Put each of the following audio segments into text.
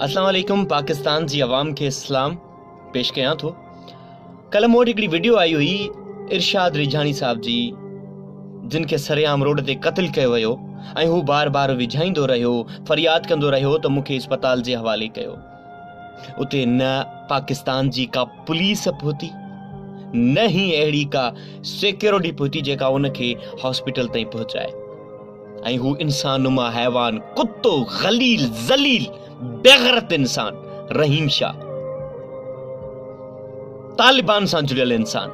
اسلام عليڪم پاڪستان جي عوام کي اسلام پيش ڪيان ٿو ڪلهه مون وٽ هڪڙي وڊيو آئي هئي ارشاد ريجھاڻي صاحب جي جن کي سرعام روڊ تي قتل ڪيو ويو ۽ هو بار بار وجھائيندو رهيو فرياد ڪندو رهيو ته مون کي اسپتال جي حوالي ڪيو اتي نه پاڪستان جي ڪا پوليس پهتي نه هي اهڙي ڪا سيڪيورٽي پهتي جيڪا ان کي هاسپيٽل تائين پهچائي ۽ هو انسان نما حيوان، ڪتو، غليل، ذليل، بيغرت انسان، رحيم شاهه، طالبان سان جڙيل انسان،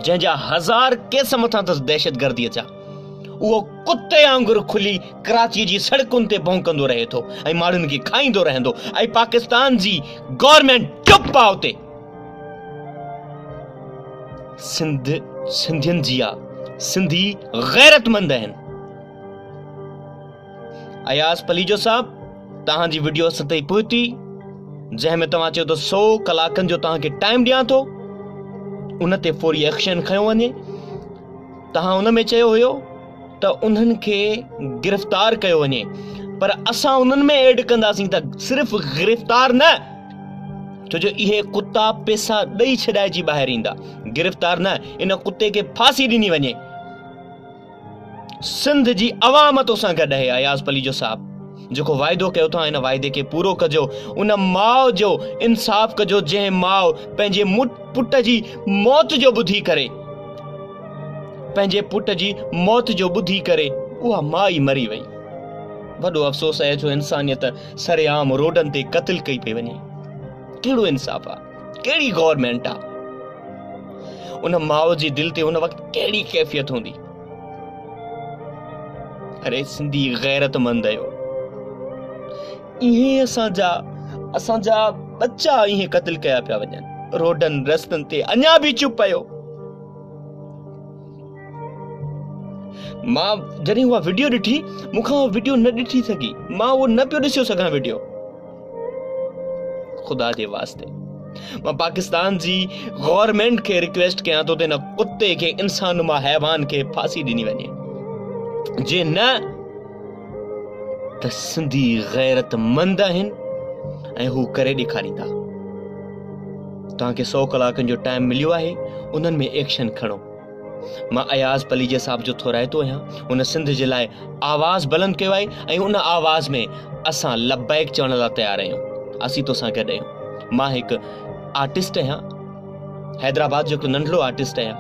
جنهن جا هزار ڪيس مٿان اٿس دهشتگرديء جا، اهو ڪتي آنگر کلي ڪراچيء جي سڙڪن تي ڀونڪندو رهي ٿو ۽ ماڻهن کي کائيندو رهندو ۽ پاڪستان جي گورنمينٽ چپ آ اتي. سنڌين جيا سنڌي غيرتمند آهن اياز پليجو صاحب توهان جي ويڊيو اسان تائين پهتي جنهن ۾ توهان چيو ته سو ڪلاڪن جو توهان کي ٽائيم ڏيان ٿو ان تي فوري ايڪشن کنيو وڃي توهان ان ۾ چيو هيو ته انهن کي گرفتار ڪيو وڃي پر اسان انهن ۾ ايڊ ڪنداسين ته صرف گرفتار نه ڇو جو اهي ڪتا پيسا ڏئي ڇڏائجي ٻاهر ايندا گرفتار نه ان ڪتي کي ڦاسي ڏني وڃي سنڌ جي عوام تو سان گڏ آهي اياز پليجو صاحب جيڪو واعدو ڪيو ٿا ان واعدي کي پورو ڪجو، ان ماء جو انصاف ڪجو جنهن ماء پنهنجي پٽ جي موت جو ٻڌي ڪري پنهنجي پٽ جي موت جو ٻڌي ڪري اها ماء ئي مري وئي وڏو افسوس اهي جو انسانيت سرعام روڊن تي قتل ڪئي پئي وڃي ڪهڙو انصاف آ ڪهڙي گورنمينٽ آ ان ماء جي دل تي ان وقت ڪهڙي ڪيفيت هوندي. اري سنڌي غيرت مند آيو ايئن اسان جا اسان جا ٻچا ايئن قتل ڪيا پيا وڃن روڊن رستن تي اڃا به چپ آيو مان جڏهن اها وڊيو ڏٺي مون کان اها وڊيو نه ڏٺي سگهي مان اهو نه پيو ڏسيو سگهان وڊيو خدا جي واسطي مان پاڪستان جي گورنمينٽ کي ريڪويسٽ ڪيان ٿو ته هن ڪتي کي انسان نما حيوان کي ڦاسي ڏني وڃي جي نه ته سنڌي غيرت مند آهن ۽ هو ڪري ڏيکاريندا توهان کي سو ڪلاڪن جو ٽائيم مليو آهي انهن ۾ ايڪشن کڻو مان اياز پليجي صاحب جو ٿورائتو آهيان، هن سنڌ جي لاء آواز بلند ڪيو آهي ۽ ان آواز ۾ اسان لبيڪ چوڻ لا تيار آهيون، اسين توسان گڏ آهيون، مان هڪ آرٽسٽ آهيان، حيدرآباد جو هڪ ننڍڙو آرٽسٽ آهيان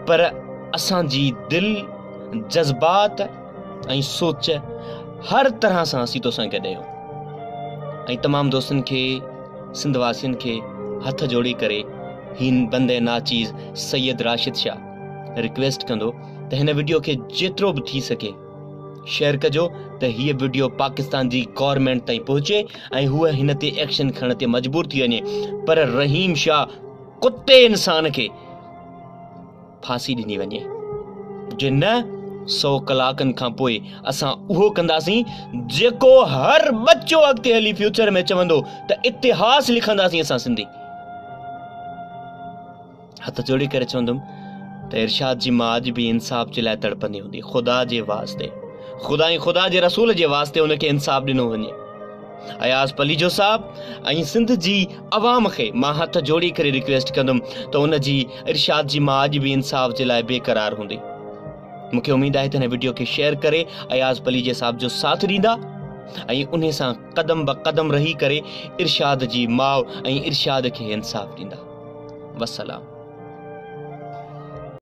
پر اسان جي دل، جذبات، ۽ سوچ هر طرح سان اسين توسان گڏ آهيون ۽ تمام دوستن کي سنڌ واسين کي هٿ جوڙي ڪري هين بند ناچيز سيد راشد شاھ رڪويسٽ ڪندو ته هن وڊيو کي جيترو به ٿي سگهي شيئر ڪجو ته هي وڊيو پاڪستان جي گورنمينٽ تائين پهچي ۽ هو هن تي ايڪشن کڻڻ تي مجبور ٿي وڃي پر رحيم شاھ ڪتي انسان کي ڦاسي ڏني وڃي. جي نه سو ڪلاڪن کان پوء اسان اهو ڪنداسين جيڪو هر ٻچو اڳتي هلي فيوچر ۾ چوندو ته اتهاس لکنداسين اسان سنڌي. هٿ جوڙي ڪري چوندم ته ارشاد جي ماء اڄ به انصاف جي لاء تڙپندي هوندي. خدا جي واسطي خدائين خدا جي رسول جي واسطي ان کي انصاف ڏنو وڃي. اياز پليجو صاحب ۽ سنڌ جي عوام کي مان هٿ جوڙي ڪري ريڪويسٽ ڪندم ته ان جي ارشاد جي مان اڄ به انصاف جي لاء بي قرار هوندي مون کي اميد آهي ته هن وڊيو کي شيئر ڪري اياز پليجي صاحب جو ساٿ ڏيندا ۽ انهي سان قدم به قدم رهي ڪري ارشاد جي ماء ۽ ارشاد کي انصاف ڏيندا وسلام